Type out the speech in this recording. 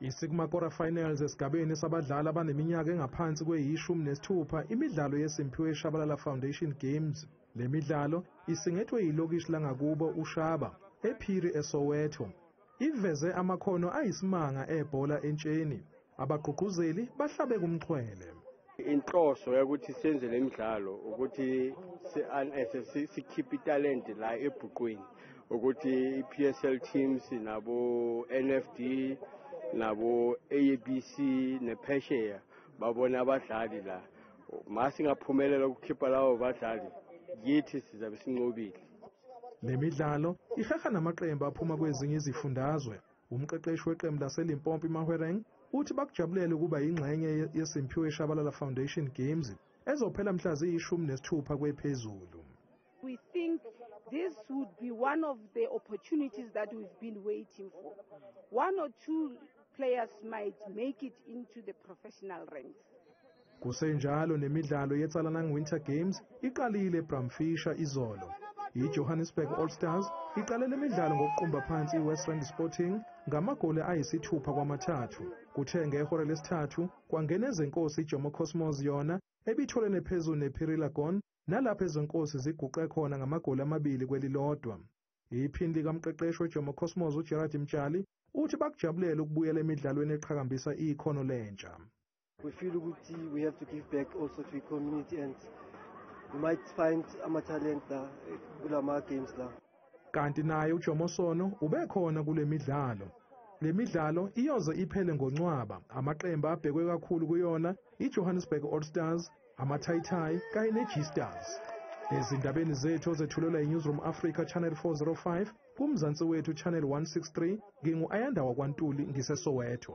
Isigma Quarter Finals esigabeni sabadlali abaneminyaka engaphansi kweyishumi nesithupha imidlalo yeSimphiwe Shabalala Foundation Games. Le midlalo isingethwe yilokishi langakubo uShaba, ePhiri eSoweto. Iveze amakhono ayisimanga ebhola entsheni. Abagqugquzeli bahlabe kumxhwele. Inhloso yokuthi senze le midlalo ukuthi si-unearthe si- sikhiphe italente la ebhuqwini ukuthi i-PSL teams nabo NFD nabo ABC nephesheya babone abadlali la ma singaphumelela ukukhipha lawo badlali yithi sizabe sinqobile Le midlalo ihaha namaqembu aphuma kwezinye izifundazwe. Umqeqeshi weqembu laseLimpopo iMahwereng uthi bakujabulele ukuba yingxenye yeSimphiwe Shabalala Foundation Games ezophela mhla ziyishumi nesithupha kwephezulu. We think this would be one of the opportunities that we've been waiting for. One or two players might make it into the professional ranks. Kusenjalo nemidlalo yeTsalanang Winter Games iqalile eBramfisher izolo. IJohannesburg All Stars iqale le midlalo ngokuqumba phansi iWest Rand Sporting ngamagoli ayisithupha kwamathathu. Kuthe ngehora lesithathu kwangena ezenkosi iJomo Cosmos yona ebitholene phezulu nePhirilagon nalapho ezenkosi ziguqe khona ngamagoli amabili kwelilodwa. Iphini likamqeqeshi weJomo Cosmos uGerard Mtshali uthi bakujabulele ukubuyela emidlalweni eqhakambisa ikhono lentsha. We feel ukuthi we have to give back also to the community and we might find ama-talent la eh, kula ma-games la kanti naye ujomosono ubekhona kule midlalo le midlalo iyoze iphele ngoncwaba amaqembu abhekwe kakhulu kuyona ijohannesburg all stars amathayithayi kanye ne-g stars ezindabeni zethu ozethulelwa yi-newsroom africa channel 405 kumzansi wethu channel 163 ngingu-ayanda wakwantuli ngisesoweto